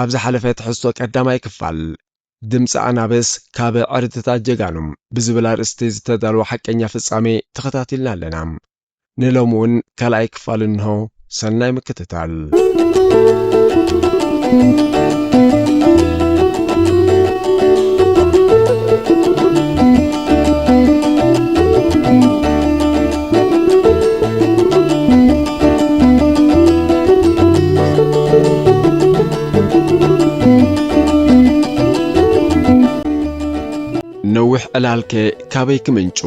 ኣብ ዝሓለፈ ትሕዝቶ ቀዳማይ ክፋል፣ ድምጺ ኣናብስ ካብ ዕርድታት ጀጋኑ ብዝብል ኣርእስቲ ዝተዳልወ ሓቀኛ ፍጻሜ ተኸታቲልና ኣለና። ንሎሚ እውን ካልኣይ ክፋል እንሆ፣ ሰናይ ምክትታል። ነዊሕ ዕላልከ ካበይ ክምንጩ?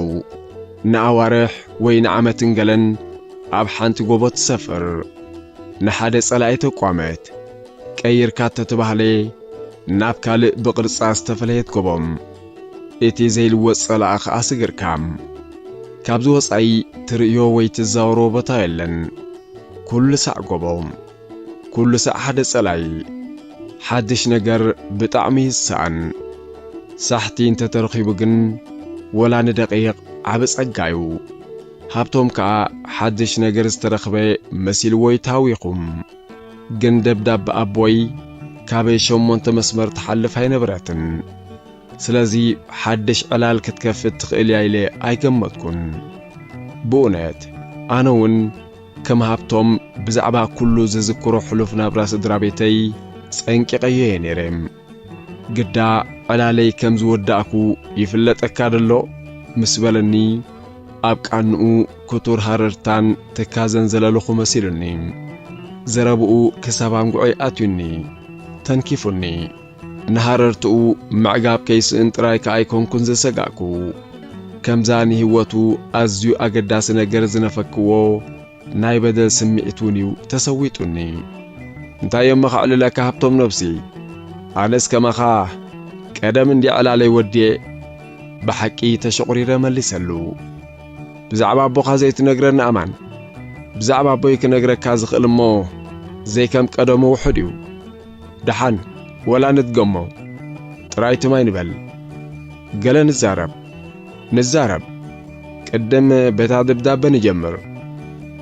ንኣዋርሕ ወይ ንዓመትን ገለን ኣብ ሓንቲ ጎቦ ትሰፍር። ንሓደ ጸላኢ ተቋመት ቀይርካ እተተባህለ ናብ ካልእ ብቕርጻ ዝተፈለየት ጎቦ። እቲ ዘይልወጥ ጸላኢ ኸኣ ስግርካ። ካብዚ ወጻኢ ትርእዮ ወይ ትዛወሮ ቦታ የለን። ኩሉ ሳዕ ጎቦ። ኩሉ ሳዕ ሓደ ጸላኢ። ሓድሽ ነገር ብጣዕሚ እዩ ዝሰኣን። ሳሕቲ እንተ ተረኺቡ ግን ወላ ንደቒቕ ዓቢ ጸጋ እዩ። ሃብቶም ከኣ ሓድሽ ነገር ዝተረኽበ መሲልዎ እዩ ተሃዊኹ። ግን ደብዳብ ኣቦይ ካበይ ሸሞንተ መስመር ትሓልፍ ኣይነበረትን ስለዚ ሓድሽ ዕላል ክትከፍት ትኽእል እያ ኢለ ኣይገመትኩን ብኡነት ኣነ ውን ከም ሃብቶም ብዛዕባ ኩሉ ዝዝክሮ ሕሉፍ ናብራ ስድራቤተይ ጸንቂቐዮ እየ ነይረ ግዳ ዕላለይ ከም ዝወዳእኩ ይፍለጠካዶ ኣሎ? ምስ በለኒ ኣብ ቃንኡ ክቱር ሃረርታን ትካዘን ዘለልኹ መሲሉኒ። ዘረብኡ ክሳብ ኣንጉዐይ ኣትዩኒ። ተንኪፉኒ። ንሃረርትኡ ምዕጋብ ከይስእን ጥራይ ከኣ ኣይኮንኩን ዝሰጋእኩ። ከምዛ ንህይወቱ ኣዝዩ ኣገዳሲ ነገር ዝነፈክዎ፣ ናይ በደል ስምዒት ውን እዩ ተሰዊጡኒ። እንታይ እሞ ከዕልለካ ሃብቶም ነብሲ ኣነስ ከማኻ ቀደም እንዲዕ ዕላለይ ወዲኤ ብሓቂ ተሸቑሪረ መሊሰሉ። ብዛዕባ ኣቦኻ ዘይትነግረኒ ኣማን ብዛዕባ ኣቦይ ክነግረካ ዝኽእል እሞ ዘይከም ቀደሙ ውሑድ እዩ። ደሓን ወላ ንድገሞ ጥራይ ትም ኣይንበል ገለ ንዛረብ። ንዛረብ ቅድም በታ ደብዳበ ንጀምር።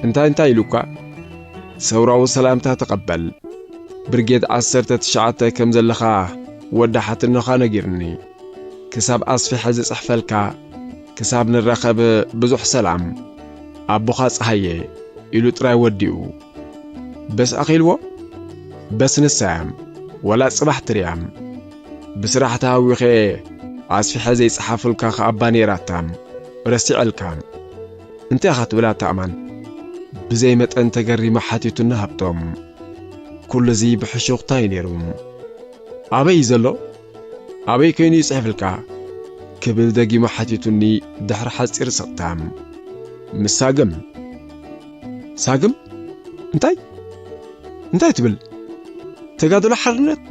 እንታይ እንታይ ኢሉካ? ሰውራዊ ሰላምታ ተቐበል። ብርጌድ ዓሰርተ ትሽዓተ ከም ዘለኻ ወዲ ሓትኖኻ ነጊሩኒ። ክሳብ ኣስፊሐ ዝጽሕፈልካ ክሳብ ንራኸብ ብዙሕ ሰላም። ኣቦኻ ጸሃየ ኢሉ ጥራይ ወዲኡ። በስ ኣኺልዎ? በስ ንሳያም ወላ ጽባሕ ትርያም። ብስራሕ ተሃዊኸ ኣስፊሐ ዘይጸሓፉልካ ከኣባ ነይራታ ረሲዐልካ እንታይ ኢኻ ትብል ኣታ ኣማን ብዘይ መጠን ተገሪማ ሓቲቱና ሃብቶም ኩሉ እዚ ብሕሹኽታ እዩ ነይሩ ኣበይ እዩ ዘሎ ኣበይ ኮይኑ እዩ ጽሕፍልካ ክብል ደጊሙ ሓቲቱኒ ድሕሪ ሓጺር ስቕታ ምስ ሳግም ሳግም እንታይ እንታይ ትብል ተጋድሎ ሓርነት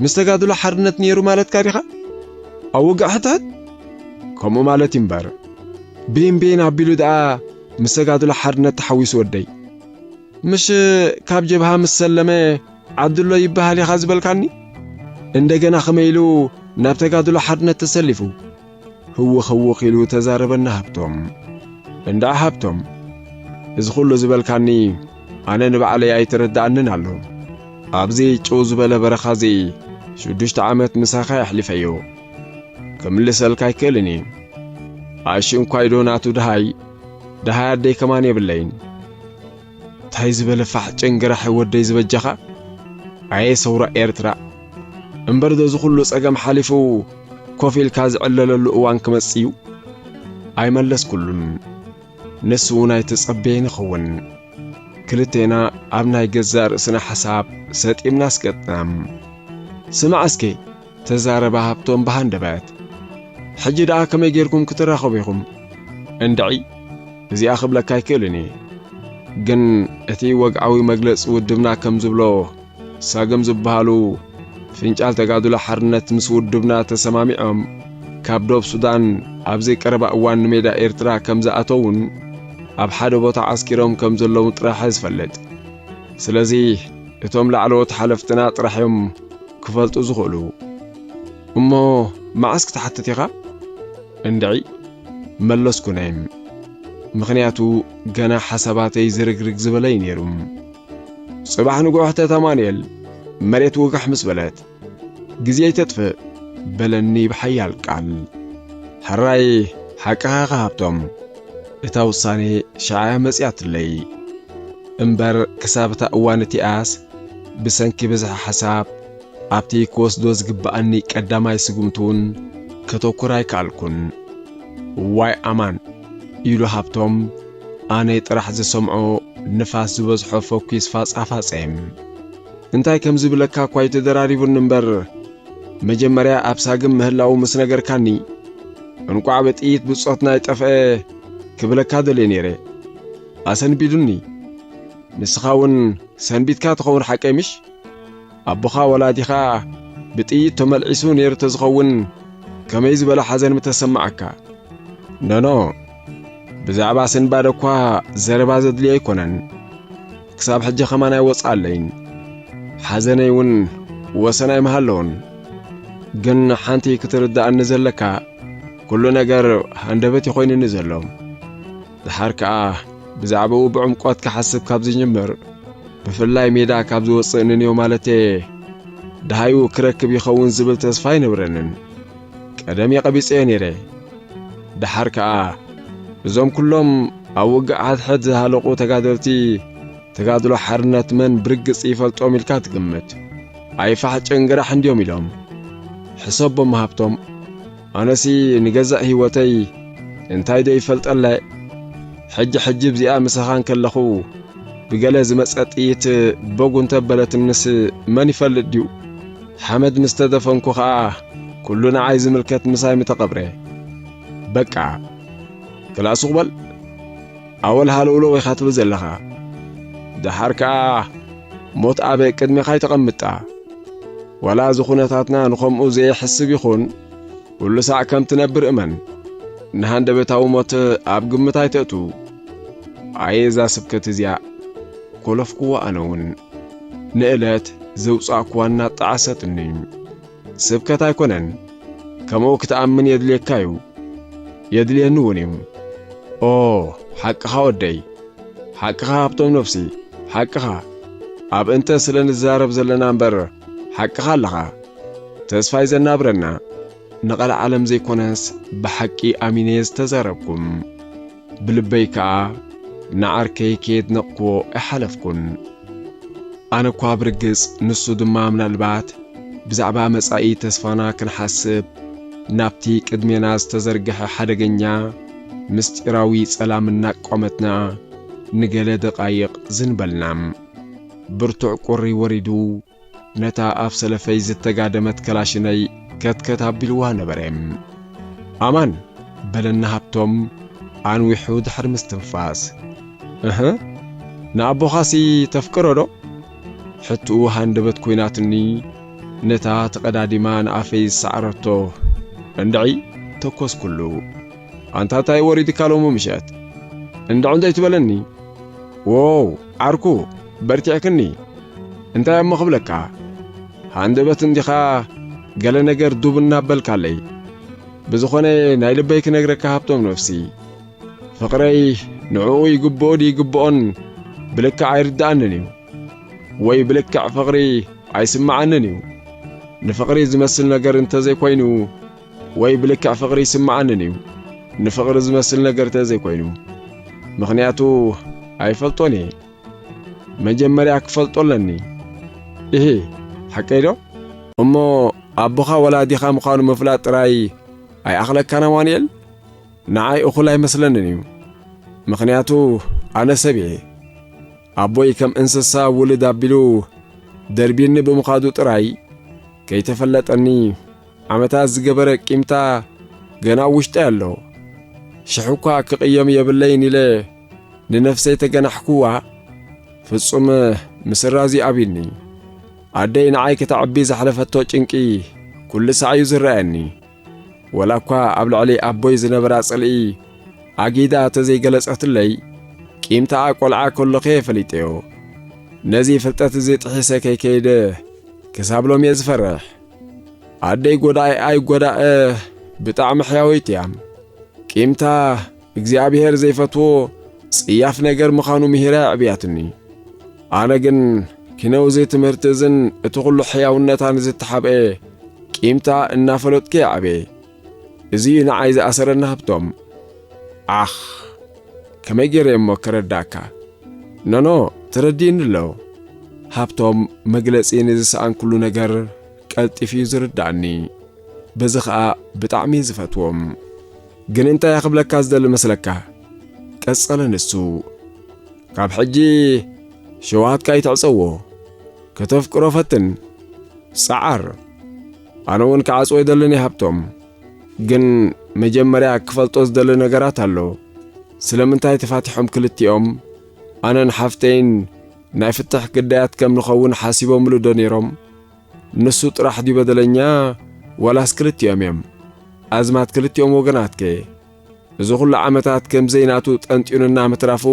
ምስ ተጋድሎ ሓርነት ነይሩ ማለትካ ዲኻ? ኣብ ውግእ ሕድሕድ? ከምኡ ማለት እዩ እምበር ቤን ቤን ኣቢሉ ደኣ ምስ ተጋድሎ ሓርነት ተሓዊሱ ወደይ። ምሽ ካብ ጀብሃ ምስ ሰለመ ዓድሎ ይበሃል ኢኻ ዝበልካኒ? እንደገና ከመይ ኢሉ ናብ ተጋድሎ ሓርነት ተሰሊፉ? ህውኽ ህውኽ ኢሉ ተዛረበና ሃብቶም። እንድዓ ሃብቶም፣ እዚ ኹሉ ዝበልካኒ ኣነ ንባዕለይ ኣይተረድኣንን ኣሎ። ኣብዚ ጭው ዝበለ በረኻ'ዚ ሽዱሽተ ዓመት ምሳኻ የሕሊፈዮ። ክምልሰልካ ኣይክእልን እየ። ኣሺ እንኳይዶ ናቱ ደሃይ፣ ደሃይ ኣደይ ከማን የብለይን። ታይ ዝበለ ፋሕ ጭንግራሕ ወደይ ዝበጃኻ ኣየ ሰውራ ኤርትራ እምበር ዶ እዚ ኩሉ ጸገም ሓሊፉ ኮፍ ኢልካ ዝዕለለሉ እዋን ክመጽእ እዩ ኣይመለስኩሉን ንሱ እውን ኣይተጸበየን ይኸውን ክልቴና ኣብ ናይ ገዛእ ርእስና ሓሳብ ሰጢምና ኣስቀጥናም ስማዕ እስከ ተዛረበ ሃብቶም ብሃንደበት። ሕጂ ደኣ ከመይ ጌርኩም ክትራኸቡ ኢኹም? እንድዒ እዚኣ ክብለካ ኣይክእልን እየ። ግን እቲ ወግዓዊ መግለጺ ውድብና ከም ዝብሎ ሳግም ዝበሃሉ ፍንጫል ተጋድሎ ሓርነት ምስ ውድብና ተሰማሚዖም ካብ ዶብ ሱዳን ኣብዚ ቀረባ እዋን ንሜዳ ኤርትራ ከም ዝኣተዉን ኣብ ሓደ ቦታ ዓስኪሮም ከም ዘለዉን ጥራሕ'የ ዝፈልጥ። ስለዚ እቶም ላዕለዎት ሓለፍትና ጥራሕ እዮም ክፈልጡ ዝኽእሉ። እሞ መዓስ ክትሓትት ኢኻ? እንድዒ መለስኩ ናይ ምኽንያቱ ገና ሓሳባተይ ዝርግርግ ዝበለ እዩ ነይሩ። ጽባሕ ንጉሆ ሕተት ኣማኑኤል መሬት ውግሕ ምስ በለት ግዜ ኣይተጥፍእ በለኒ ብሓያል ቃል። ሕራይ ሓቅኻ ኢኻ ሃብቶም፣ እታ ውሳነ ሽዓ'ያ መጺኣትለይ። እምበር ክሳብ እታ እዋን እቲኣስ ብሰንኪ ብዝሒ ሓሳብ ኣብቲ ክወስዶ ዝግብኣኒ ቀዳማይ ስጉምቲ'ውን ከተኩር ኣይከኣልኩን። እዋይ ኣማን! ኢሉ ሃብቶም ኣነ ጥራሕ ዝሰምዖ ንፋስ ዝበዝሖ ፈኲስ ፋጻፋጸ። እንታይ ከም ዝብለካ እኳ ኣይተደራሪቡኒ እምበር መጀመርያ ኣብ ሳግም ምህላዉ ምስ ነገርካኒ እንቋዕ ብጥይት ብጾትና ኣይጠፍኤ ክብለካ ደልየ ነይረ ኣሰንቢዱኒ ንስኻ እውን ሰንቢትካ ትኸውን ሓቀይ ምሽ ኣቦኻ ወላዲኻ ብጥይት ተመልዒሱ ነይሩ ተዝኸውን ከመይ ዝበለ ሓዘን ምተሰማዓካ ኖኖ ብዛዕባ ስንባደ እኳ ዘረባ ዘድልዮ ኣይኮነን ክሳብ ሕጂ ከማን ኣይወጽኣለይን ሓዘነይ እውን ወሰን ኣይምሃለዎን ግን ሓንቲ ክትርድኣኒ ዘለካ ኩሉ ነገር ሃንደበት እዩ ኮይኑኒ ዘሎ ድሓር ከኣ ብዛዕባኡ ብዕምቆት ክሓስብ ካብ ዝጅምር ብፍላይ ሜዳ ካብ ዝወጽእ ንንዮ ማለተየ ደሃዩ ክረክብ ይኸውን ዝብል ተስፋ ኣይነብረንን ቀደም የቐቢጸዮ ነይረ ደሓር ከኣ እዞም ኩሎም ኣብ ውግእ ሓድሕድ ዝሃለቑ ተጋደልቲ ተጋድሎ ሓርነት መን ብርግጽ ይፈልጦም ኢልካ ትግምት? ኣይፋሕ ጭንግራሕ እንድዮም ኢሎም ሕሰቦም ሃብቶም። ኣነሲ ንገዛእ ህይወተይ እንታይዶ ይፈልጠለ ሕጂ ሕጂ ብዚኣ ምሳኻን ከለኹ ብገለ ዝመጸ ጥይት ቦግ እንተበለትንስ መን ይፈልጥ ድዩ? ሓመድ ምስ ተደፈንኩ ኸኣ ኩሉ ንዓይ ዝምልከት ምሳይ ምተቐብረ። በቃ! ክላእ ሱቕ በል! ኣወል ሃለውለው ኢኻ ትብል ዘለኻ። ደሓር ከኣ ሞት ኣበ ቅድሜኻ ኣይተቐምጣ። ዋላ እዚ ኩነታትና ንኸምኡ ዘየሕስብ ይኹን፣ ኩሉ ሳዕ ከም ትነብር እመን። ንሃንደበታዊ ሞት ኣብ ግምት ኣይተእቱ። ኣየ እዛ ስብከት እዚኣ! ኮለፍኩዋ ኣነ'ውን። ንእለት ዘውጻእኩዋ እናጣዓሰትኒ ስብከት ኣይኮነን ከምኡ ክትኣምን የድልየካ እዩ የድልየኒ እውን እዩ ኦ ሓቅኻ ወደይ ሓቅኻ ሃብቶም ነፍሲ ሓቅኻ ኣብ እንተ ስለ ንዛረብ ዘለና እምበር ሓቅኻ ኣለኻ ተስፋይ ዘናብረና ንቐልዓለም ዘይኮነስ ብሓቂ ኣሚነየ ዝተዛረብኩም ብልበይ ከኣ ንዓርከይ ከየድነቕክዎ ኣይሓለፍኩን። ኣነ እኳ ብርግጽ ንሱ ድማ ምናልባት ብዛዕባ መጻኢ ተስፋና ክንሓስብ ናብቲ ቅድሜና ዝተዘርግሐ ሓደገኛ ምስጢራዊ ጸላም እናቋመትና ንገለ ደቓይቕ ዝን በልና። ብርቱዕ ቁሪ ወሪዱ። ነታ ኣብ ሰለፈይ ዝተጋደመት ከላሽነይ ከትከት ኣቢልዋ ነበረ። ኣማን! በለኒ ሃብቶም ኣንዊሑ ድሕሪ ምስትንፋስ። እህ! ንኣቦኻሲ ተፍቅሮዶ? ሕትኡ ሃንደበት ኮይናትኒ ነታ ተቐዳዲማ ንኣፈይ ዝሰዓረቶ እንድዒ ተኮስኩሉ። ኣንታ ታይ ወሪዱካ ሎሚ ምሸት? እንድዒ እንተይትበለኒ? ዎው! ዓርኩ በርቲዕክኒ እንታይ እሞ ክብለካ ሃንደበት እንዲኻ ገለ ነገር ዱብ እናበልካለይ ብዝኾነ ናይ ልበይ ክነግረካ ሃብቶም ነፍሲ ፍቕረይ ንዕኡ ይግብኦ ድዩ ይግብኦን ብልክዕ ኣይርድኣንን እዩ ወይ ብልክዕ ፍቕሪ ኣይስምዓንን እዩ ንፍቕሪ ዝመስል ነገር እንተዘይኮይኑ ወይ ብልክዕ ፍቕሪ ይስምዓንን እዩ ንፍቕሪ ዝመስል ነገር ተዘይኮይኑ ምኽንያቱ ኣይፈልጦን እየ መጀመርያ ክፈልጦ ኣለኒ እህ ሓቀይ ዶ እሞ ኣቦኻ ወላዲኻ ምዃኑ ምፍላጥ ጥራይ ኣይኣኽለካን ኣማኑኤል ንዓይ እኹል ኣይመስለንን እዩ ምኽንያቱ ኣነ ሰብ እየ ኣቦይ ከም እንስሳ ውልድ ኣቢሉ ደርቢኒ ብምዃዱ ጥራይ ከይተፈለጠኒ ዓመታት ዝገበረ ቂምታ ገና ኣብ ውሽጠይ ኣሎ። ሽሕ እኳ ክቕየም የብለይን ኢለ ንነፍሰይ ተገናሕኩዋ፣ ፍጹም ምስራዝ እዩ ኣቢኒ። ኣደይ ንዓይ ከተዕቢ ዘሕለፈቶ ጭንቂ ኩሉ ሳዕ እዩ ዝረኣየኒ። ወላ እኳ ኣብ ልዕሊ ኣቦይ ዝነበራ ጽልኢ ኣጊዳ ተዘይገለጸትለይ፣ ቂምታኣ ቈልዓ ከሎኸ ፈሊጠዮ። ነዚ ፍልጠት እዚ ጥሒሰ ከይከይደ ክሳብ ሎሚ እየ ዝፈርሕ። ኣደይ ጎዳኢ ኣይጎዳእ ብጣዕሚ ሕያወይቲ እያ። ቂምታ እግዚኣብሔር ዘይፈትዎ ጽያፍ ነገር ምዃኑ ምሂራ ኣዕብያትኒ። ኣነ ግን ኪነው እዚ ትምህርቲ እዝን እቲ ዅሉ ሕያውነታን ዝተሓብአ ቂምታ እናፈለጥኩ የዕበየ። እዚ እዩ ንዓይ ዝኣሰረኒ ሃብቶም። ዓኽ ከመይ ገይረ እሞ ከረዳእካ? ኖኖ ተረዲኡኒ ኣሎ። ሃብቶም መግለጺ ንዝሰኣንኩሉ ነገር ቀልጢፉ እዩ ዝርዳእኒ። በዚ ኸኣ ብጣዕሚ እዩ ዝፈትዎም። ግን እንታይ እየ ክብለካ ዝደሊ መስለካ? ቀጸለ ንሱ። ካብ ሕጂ ሸውሃትካ ይትዕጸዎ። ከተፍቅሮ ፈትን፣ ጸዓር። ኣነ እውን ክዓጽዎ ይደልን እየ ሃብቶም። ግን መጀመርያ ክፈልጦ ዝደሊ ነገራት ኣሎ። ስለምንታይ ተፋቲሖም ክልቲኦም? ኣነን ሓፍተይን ናይ ፍትሕ ግዳያት ከም ንኸውን ሓሲቦምሉ ዶ ነይሮም? ንሱ ጥራሕ ድዩ በደለኛ ዋላስ ክልቲኦም እዮም? ኣዝማት ክልቲኦም ወገናት ከ? እዚ ኹሉ ዓመታት ከም ዘይናቱ ጠንጢኑና ምትራፉ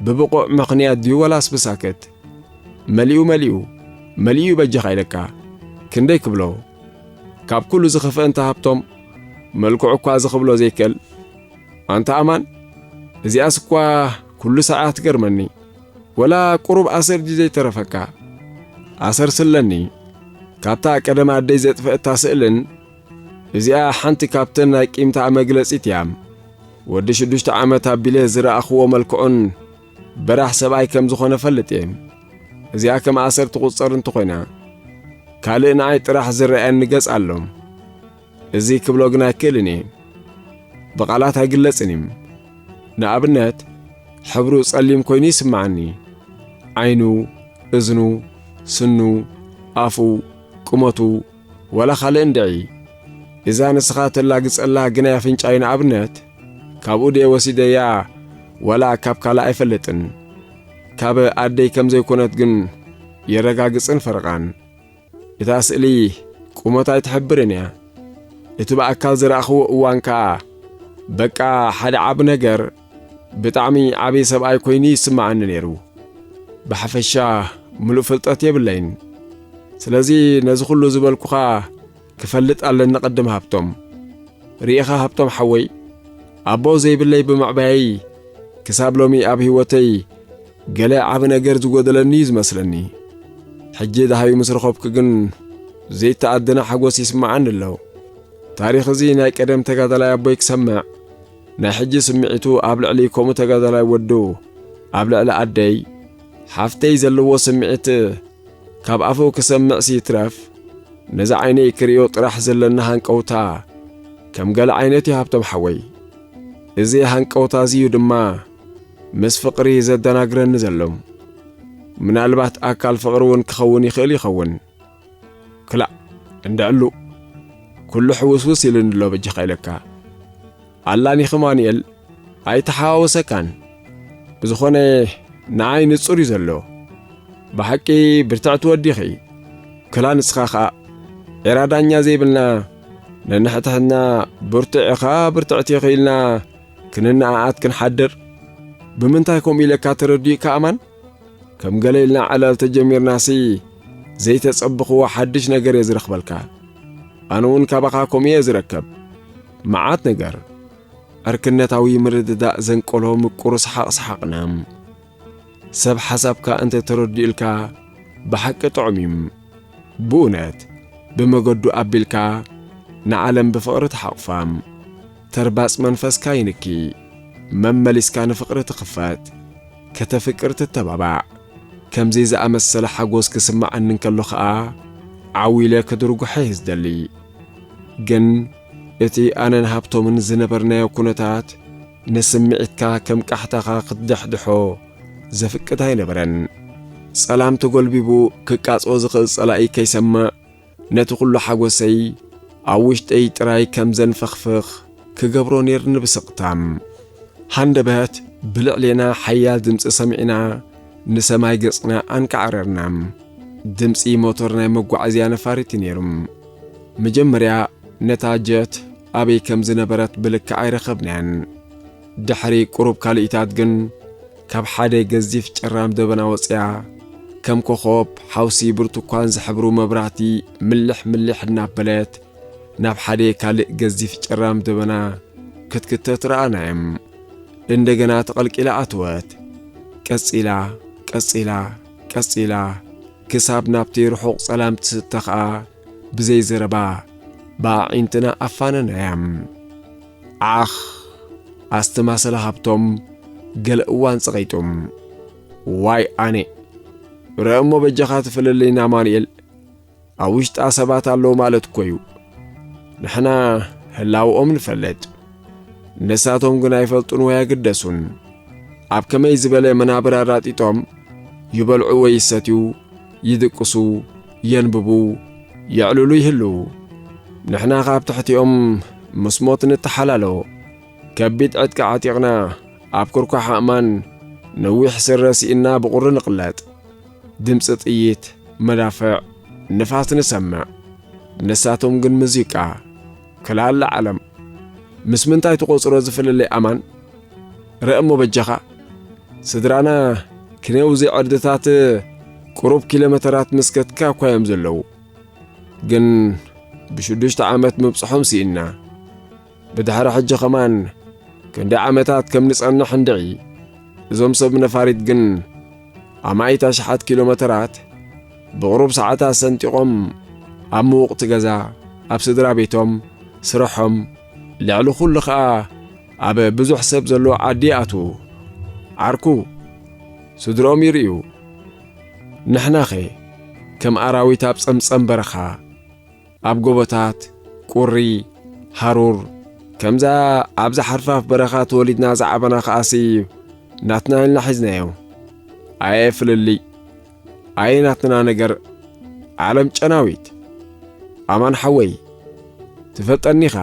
ብብቑዕ ምኽንያት ድዩ ወላስ ብሳክት? መሊኡ መሊኡ መሊኡ በጃኻ ኢለካ ክንደይ ክብሎ? ካብ ኩሉ ዝኸፍአ እንተ ሃብቶም መልክዑ እኳ እዚ ክብሎ ዘይክእል ኣንታ ኣማን እዚኣስ እኳ ኩሉ ሰዓ ትገርመኒ ወላ ቁሩብ ኣሰር ድዩ ዘይተረፈካ ኣሰር ስለኒ ካብታ ቀደም ኣደይ ዘጥፈእታ ስእልን እዚኣ ሓንቲ ካብተን ናይ ቂምታኣ መግለጺት እያ። ወዲ ሽዱሽተ ዓመት ኣቢለ ዝረኣኽዎ መልክዑን በራሕ ሰብኣይ ከም ዝኾነ ፈልጥ እየ። እዚኣ ከም ኣሰር ትቝጸር እንተኾይና ካልእ ንኣይ ጥራሕ ዝረኣየኒ ገጽ ኣሎ። እዚ ክብሎ ግን ኣይክእልን እየ። ብቓላት ኣይግለጽን እዩ። ንኣብነት ሕብሩ ጸሊም ኮይኑ ይስምዓኒ። ዓይኑ፣ እዝኑ፣ ስኑ፣ ኣፉ፣ ቁመቱ ወላ ኻልእ እንድዒ እዛ ንስኻ ተላግጸላ ግናይ ኣፍንጫይ ንኣብነት ካብኡ ድየ ወሲደያ ወላ ካብ ካልእ ኣይፈልጥን ካብ ኣደይ ከም ዘይኮነት ግን የረጋግጽን ፈርቓን እታ ስእሊ ቁመት ኣይትሕብርን እያ እቲ ብኣካል ዝረኣኽዎ እዋን ከኣ በቃ ሓደ ዓቢ ነገር ብጣዕሚ ዓብዪ ሰብኣይ ኮይኑ ይስምዓኒ ነይሩ። ብሓፈሻ ምሉእ ፍልጠት የብለይን። ስለዚ ነዚ ኹሉ ዝበልኩኻ ክፈልጥ ኣለኒ ቅድም ሃብቶም። ርኢኻ ሃብቶም ሓወይ ኣቦ ዘይብለይ ብምዕባየይ ክሳብ ሎሚ ኣብ ህይወተይ ገለ ዓቢ ነገር ዝጎደለኒ እዩ ዝመስለኒ። ሕጂ ደሃዩ ምስ ረኸብኩ ግን ዘይተኣደነ ሓጎስ ይስምዓኒ ኣሎ። ታሪኽ እዚ ናይ ቀደም ተጋዳላይ ኣቦይ ክሰምዕ ናይ ሕጂ ስምዒቱ ኣብ ልዕሊ ከምኡ ተጋዳላይ ወዱ ኣብ ልዕሊ ኣደይ ሓፍተይ ዘለዎ ስምዒት ካብ ኣፉ ክሰምዕሲ ይትረፍ ነዚ ዓይነይ ክርእዮ ጥራሕ ዘለና ሃንቀውታ ከም ገለ ዓይነት እዩ ሃብቶም ሓወይ። እዚ ሃንቀውታ እዚ እዩ ድማ ምስ ፍቕሪ ዘደናግረኒ ዘሎ። ምናልባት ኣካል ፍቕሪ እውን ክኸውን ይኽእል ይኸውን። ክላእ እንደዕሉ ኩሉ ሕውስውስ ኢሉኒ ኣሎ በጃኻ ኢለካ ኣላኒኺ ማኑኤል ኣይተሓዋወሰካን ብዝኾነ ንኣይ ንጹር እዩ ዘሎ ብሓቂ ብርትዕቲ ወዲኺ ክላ ንስኻ ኸኣ ዒራ ዳኛ ዘይብልና ነንሕትሕትና ብርቱዕ ኢኻ ብርትዕቲ ኢኺ ኢልና ክንነኣኣት ክንሓድር ብምንታይ ከምኡ ኢለካ ተረዲኡካ ኣማን ከም ገለ ኢልና ዕላል ተጀሚርናሲ ዘይተጸብኽዎ ሓድሽ ነገር እየ ዝረኽበልካ። ኣነ እውን ካባኻ ከምኡ እየ ዝረከብ መዓት ነገር። ዕርክነታዊ ምርድዳእ ዘንቀሎ ምቁር ሰሓቕ ሰሓቕና። ሰብ ሓሳብካ እንተ ተረዲኡልካ ብሓቂ ጥዑም እዩ። ብእውነት ብመገዱ ኣቢልካ ንዓለም ብፍቕሪ ተሓቑፋ። ተርባጽ መንፈስካ ይንኪ መመሊስካ ንፍቕሪ ትኽፈት ከተፍቅር ትተባባዕ ከምዚ ዝኣመሰለ ሓጎስ ክስመዓኒ እንከሎ ከኣ ዓው ኢለ ክድርጉሐ እየ ዝደሊ ግን እቲ ኣነን ሃብቶምን ዝነበርናዮ ኩነታት ንስምዒትካ ከም ቃሕታኻ ክትድሕድሖ ዘፍቅድ ኣይነበረን ጸላም ተጎልቢቡ ክቃጾ ዝኽእል ጸላኢ ከይሰምዕ ነቲ ኩሉ ሓጎሰይ ኣብ ውሽጠይ ጥራይ ከም ዘንፈኽፍኽ ክገብሮ ኔርኒ ብስቕታ። ሃንደበት ብልዕሌና ሓያል ድምጺ ሰሚዕና ንሰማይ ገጽና ኣንቃዕረርና። ድምጺ ሞቶር ናይ መጓዓዝያ ነፋሪት እዩ ኔሩ። መጀመርያ ነታ ጀት ኣበይ ከም ዝነበረት ብልክዕ ኣይረኸብናያን። ድሕሪ ቁሩብ ካልኢታት ግን ካብ ሓደ ገዚፍ ጭራም ደበና ወጽያ ከም ኮኾብ ሓውሲ ብርቱኳን ዝሕብሩ መብራህቲ ምልሕ ምልሕ እናበለት ናብ ሓደ ካልእ ገዚፍ ጭራም ደበና ክትክተት ረኣናዮም። እንደገና ተቐልቂላ ኣተወት። ቀጺላ ቀጺላ ቀጺላ ክሳብ ናብቲ ርሑቕ ጸላም ትስተ ኸኣ ብዘይ ዘረባ ብኣዒንትና ኣፋነናያም። ዓኽ! ኣስተማሰለ ሃብቶም ገለ እዋን ጸቒጡም። ዋይ ኣኔ! ረእሞ በጃኻ ትፍለለይና ኣማኑኤል፣ ኣብ ውሽጣ ሰባት ኣለዉ ማለት እኮ እዩ። ንሕና ህላውኦም ንፈልጥ፣ ንሳቶም ግን ኣይፈልጡን ወይ ኣይግደሱን። ኣብ ከመይ ዝበለ መናብር ኣራጢጦም ይበልዑ ወይ ይሰትዩ ይድቅሱ፣ የንብቡ፣ የዕልሉ ይህልዉ። ንሕና ካብ ትሕቲኦም ምስ ሞት ንተሓላሎ። ከቢድ ዕጥቂ ዓጢቕና፣ ኣብ ኩርኳሕ ኣእማን ነዊሕ ስረ ስኢንና ብቑሪ ንቕለጥ። ድምጺ ጥይት፣ መዳፍዕ፣ ንፋስ ንሰምዕ። ንሳቶም ግን ሙዚቃ። ክላለ ዓለም። ምስ ምንታይ ትቆጽሮ ዝፍልልይ ኣማን ረእ እሞ በጃኻ ስድራና ክኔው እዚ ዕርድታት ቅሩብ ኪሎመተራት ምስከትካ እኳ እዮም ዘለዉ ግን ብሽዱሽተ ዓመት ምብጽሖም ስኢንና ብድሕሪ ሕጂ ኸማን ክንደይ ዓመታት ከም ንጸንሕ እንድዒ እዞም ሰብ ነፋሪት ግን ኣማኢት ኣሽሓት ኪሎ መተራት ብቕሩብ ሰዓታት ሰንጢቖም ኣብ ምውቕቲ ገዛ፣ ኣብ ስድራ ቤቶም፣ ስርሖም፣ ልዕሊ ኹሉ ኸኣ ኣብ ብዙሕ ሰብ ዘለዎ ዓዲ ይኣትዉ። ዓርኩ፣ ስድርኦም ይርእዩ። ንሕናኸ ከም ኣራዊት ኣብ ጸምጸም በረኻ። ኣብ ጎቦታት፣ ቁሪ፣ ሃሩር፣ ከምዛ ኣብዛ ሓርፋፍ በረኻ ተወሊድና ዝዓበና ከኣሲ ናትና ኢልና ሒዝናዮ። ኣየ ፍልልይ! ኣየ ናትና ነገር! ዓለም ጨናዊት! ኣማን ሓወይ ትፈልጠኒ ኢኻ።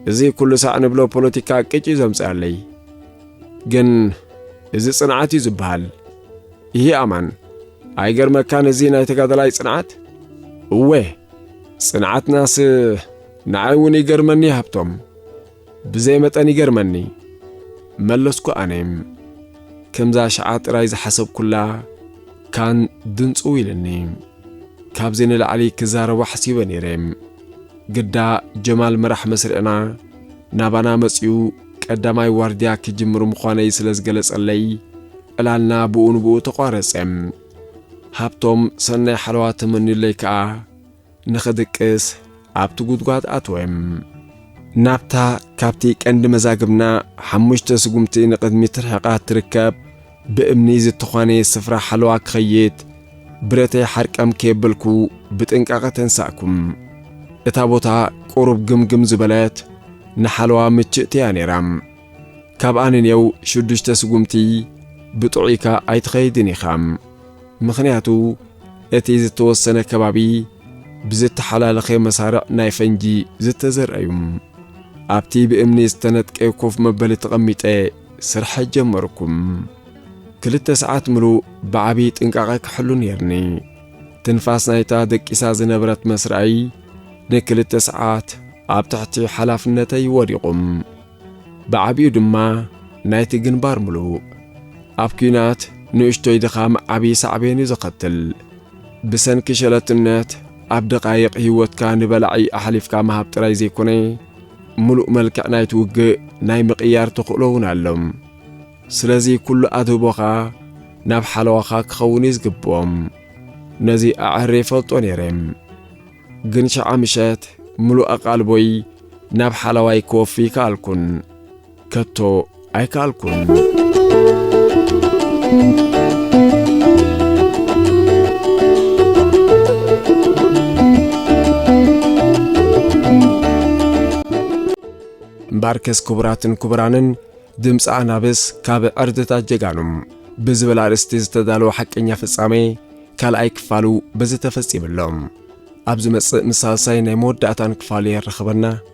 እዚ ኩሉ ሳዕ ንብሎ ፖለቲካ ቅጭ እዩ ዘምጽኣለይ። ግን እዚ ጽንዓት እዩ ዝበሃል። ይህ ኣማን ኣይገርመካን እዚ ናይ ተጋዳላይ ጽንዓት? እወ ጽንዓትናስ ንዓይ እውን ይገርመኒ ሃብቶም፣ ብዘይ መጠን ይገርመኒ መለስኩ ኣነ። ከምዛ ሽዓ ጥራይ ዝሓሰብኩላ ካን ድንጽው ኢልኒ። ካብዚ ንላዕሊ ክዛረብ ኣሕሲበ ነይረ ግዳ ጀማል መራሕ መስርዕና ናባና መጺኡ ቀዳማይ ዋርድያ ክጅምር ምዃነይ ስለ ዝገለጸለይ ዕላልና ብኡ ንብኡ ተቋረጸ። ሃብቶም ሰናይ ሓለዋ ተመንዩለይ ከኣ ንኽድቅስ ኣብቲ ጉድጓድ ኣትወ። ናብታ ካብቲ ቀንዲ መዛግብና ሓሙሽተ ስጉምቲ ንቕድሚት ርሒቓ እትርከብ ብእምኒ ዝተዃነየ ስፍራ ሓለዋ ክኸይድ ብረተይ ሓርቀም ከየበልኩ ብጥንቃቐ ተንሳእኩም። እታ ቦታ ቁሩብ ግምግም ዝበለት ንሓለዋ ምችእቲ እያ ነይራ። ካብኣ ንኔው ሽዱሽተ ስጉምቲ ብጥዑይካ ኣይትኸይድን ኢኻ። ምኽንያቱ እቲ ዝተወሰነ ከባቢ ብዝተሓላለኸ መሳርዕ ናይ ፈንጂ ዝተዘርዐ እዩ። ኣብቲ ብእምኒ ዝተነጥቀ ኮፍ መበሊ ተቐሚጠ ስርሐ ጀመርኩም ክልተ ሰዓት ምሉእ ብዓብዪ ጥንቃቐ ክሕሉ ነይርኒ ትንፋስ ናይታ ደቂሳ ዝነበረት መስርኣይ ንክልተ ሰዓት ኣብ ትሕቲ ሓላፍነተይ ወዲቑም ብዓብዩ ድማ ናይቲ ግንባር ምሉእ ኣብ ኲናት ንእሽቶይ ድኻም ዓብዪ ሳዕቤን እዩ ዘኸትል ብሰንኪ ሸለትነት ኣብ ደቃይቕ ህይወትካ ንበላዒ ኣሕሊፍካ ምሃብ ጥራይ ዘይኮነ ምሉእ መልክዕ ናይቲ ውግእ ናይ ምቕያር ተኽእሎ እውን ኣሎ። ስለዚ ኩሉ ኣድህቦኻ ናብ ሓለዋኻ ክኸውን እዩ ዝግብኦም። ነዚ ኣዐህሬ ይፈልጦ ነይረ። ግን ሸዓ ምሸት ምሉእ ኣቓልቦይ ናብ ሓላዋይ ክወፊ ኣይከኣልኩን። ከቶ ኣይከኣልኩን። እምበኣርከስ ክቡራትን ክቡራንን ድምፂ ኣናብስ ካብ ዕርድታት ጀጋኑ ብዝብል ኣርእስቲ ዝተዳለወ ሓቀኛ ፍጻሜ ካልኣይ ክፋሉ በዚ ተፈጺሙ ኣሎ። ኣብ ዝመጽእ ምስ ሳልሳይ ናይ መወዳእታን ክፋሉ የራኽበና።